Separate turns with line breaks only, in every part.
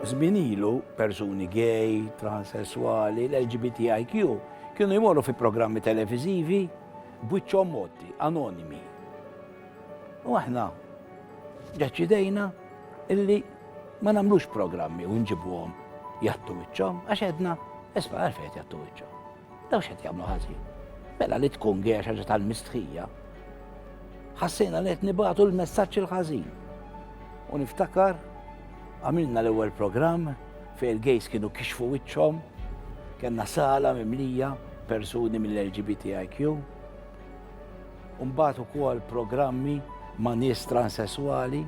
Żmien ilu, persuni gay, transessuali, l-LGBTIQ kienu jmorru fi programmi televiżivi b'wiċċhom motti, anonimi. U aħna deċidejna illi ma nagħmlux programmi u nġibuhom jattu wiċċhom għax edna isma' għalfejn jattu wiċċhom. Daw x'qed jagħmlu ħażin. Mela li tkun għex ħaġa tal-mistħija. Ħassejna li qed nibgħatu l-messaġġ il-ħażin. U niftakar għamilna l-ewwel programm fejn il-gejs kienu kixfu wiċċhom, kellna sala mimlija persuni mill-LGBTIQ. Umbat u kol programmi ma' nies transessuali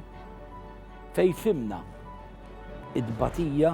fej fimna id-batija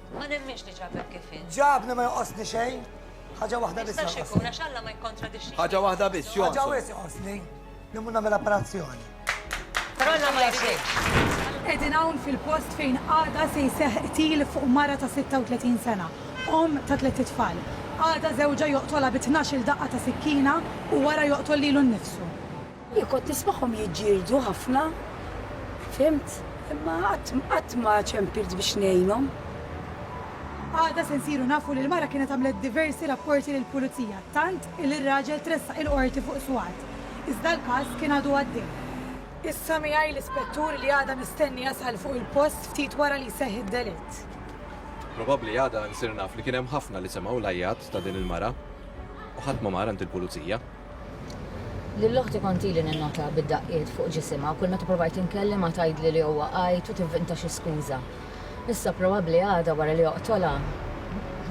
Ma nemminx
li ġabek kif int. Ġabni ma joqosni xejn.
Ħaġa waħda biss. Jistax ikun għax Alla ma jikkontradixxi.
Ħaġa waħda biss, jonqos.
Ħaġa wis joqosni
li mhu nagħmel apparazzjoni. Però Alla
ma jridx. Qegħdin hawn fil-post
fejn għada se jseħħ qtil fuq mara ta' 36 sena, omm ta' tliet itfal. Għada żewġha joqtolha bi tnax-il daqqa ta' sikkina u wara joqtol lilu nnifsu. Jien kont
nismagħhom jiġġieldu ħafna, fhimt, imma qatt, qatt ma ċempilt biex ngħinhom.
Għada se nsiru nafu li l-mara kienet għamlet diversi rapporti lill-Pulizija, tant li r-raġel tressaq il-Qorti fuq swat, iżda l-każ kien għadu għaddej. Issa miegħi l-Ispettur li għada mistenni jasal fuq il-post ftit wara li jseħħ id-delitt. Probabbli
għada nsir naf li kien hemm ħafna li semgħu l-għajjat ta' din il-mara u ħadd ma mar għand il-Pulizija.
Lil oħti kontili ninnota bid-daqqiet fuq ġisimha kull meta provajt inkellimha tgħidli li huwa għajt u tivvinta xi skuża. Issa probabbli għada wara li joqtolha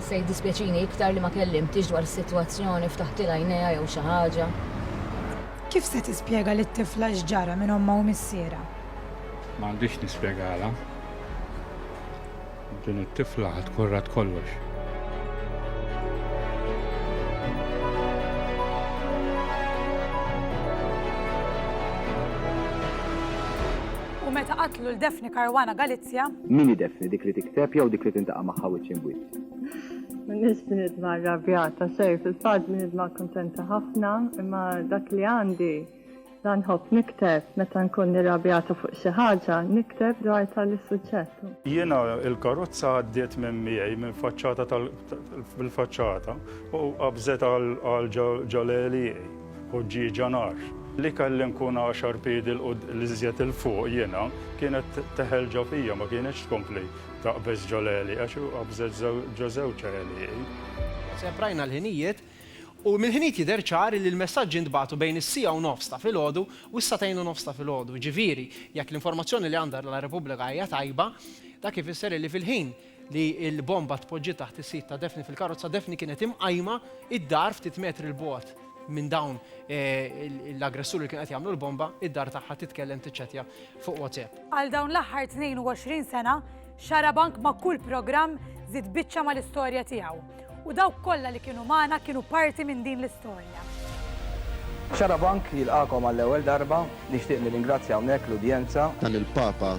se jiddispjaċini iktar li ma kellimtiex dwar is-sitwazzjoni, ftaħtilha għajnejha jew xi ħaġa.
Kif se tispjega lit-tifla x'ġara minn ommha u missierha? M'għandix
nispjegalha. Din it-tifla ħad tkun rat kollox.
U meta qatlu l-Defni Karwana Galizja. Min idefni dik
li tikteb jew dik li tintaqa' magħha wiċċ imwiċċ? Nis
bnidma rabjata, sej, fil-fat bnidma kontenta ħafna, imma dak li għandi Dan nħobb nikteb, meta nkun irrabjata fuq xi ħaġa, nikteb dwar tali suġġett. Jiena
l-karozza għaddiet minn miegħi minn faċċata tal bil-faċċata u qabżet għal ġo l-għelieqi, ħuġġieġa nar, li kelli nkun għaxar piedi l iżjed 'il fuq jiena, kienet teħel ġo fija ma kienitx tkompli taqbeż ġo l-għelieq għax qabżet ġo żewġ għelieqi. Seprajna
l-ħinijiet U mill-ħinijiet jidher ċar li l-messaġġi ntbagħtu bejn is-siegħa u nofs ta' filgħodu u s-sagħtejn u nofs ta' filgħodu. Jiġifieri, jekk l-informazzjoni li għandha La Repubblica hija tajba, dak ifisser illi fil-ħin li l-bomba tpoġġiet taħt is-sid ta' Daphne fil-karozza, Daphne kienet imqajma d-dar ftit metri 'l bogħod minn dawn l-aggressuri li kienu qed jagħmlu l-bomba, id-dar tagħha titkellem tiċċettja fuq WhatsApp. Għal dawn l-aħħar 22
sena, Xarabank ma' kull programm żied biċċa mal-istorja tiegħu. U dawk kollha li kienu magħna kienu parti minn din l-istorja.
Xarabank jilqagħkom għall-ewwel darba, nixtieq nirringrazzja hawnhekk l-udjenza. Dan il-Papa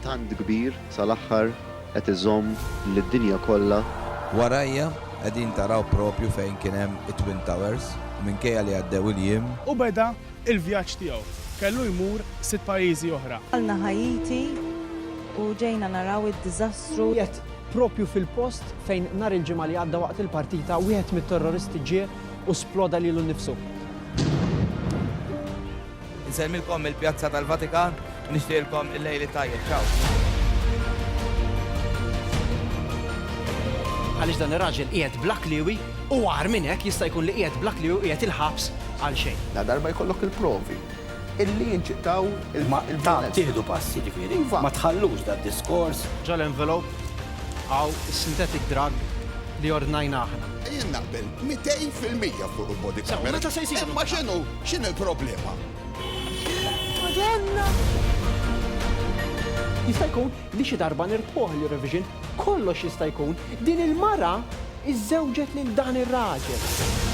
tant kbir sal-aħħar qed iżomm lid-dinja kollha. Warajja
qegħdin taraw propju fejn kien hemm it-Twin Towers u minkejja li għaddew il-jiem. U beda
Il-vjaġġ tiegħu kellu jmur sitt pajjiżi oħra. Qalna Ħaiti
u ġejna naraw id-diżastru. Qiegħed proprju
fil-post fejn nhar il-Ġimgħa li għadda waqt il-partita wieħed mit-terroristi ġie u sploda lilu nnifsu.
Insellmilkom mill-Pjazza tal-Vatikan. Nixtieqilkom il-lejl it-tajjeb. Ciao.
Għaliex dan ir-raġel qiegħed bla kliewi u agħar minn hekk jista' jkun li qiegħed bla kliewi u qiegħed il-ħabs għalxejn. Ladarba jkollok
il-provi illi jinċitaw il-maqtla. Ta'
tieħdu pass jiġifieri. Iva. Ma tħallux dad-diskors. Ġo l-envelope
hawn is-synthetic drug li ordnajna aħna. Jien naqbel 200
fil-mija fuq il-body camera. Sew, meta se jsiru? Imma x'inhu,
x'inhi
l-problema? Madonna!
Jista' jkun li xi darba nirbħuh l-Eurovision, kollox jista' jkun, din il-mara iżżewġet lil dan ir-raġel.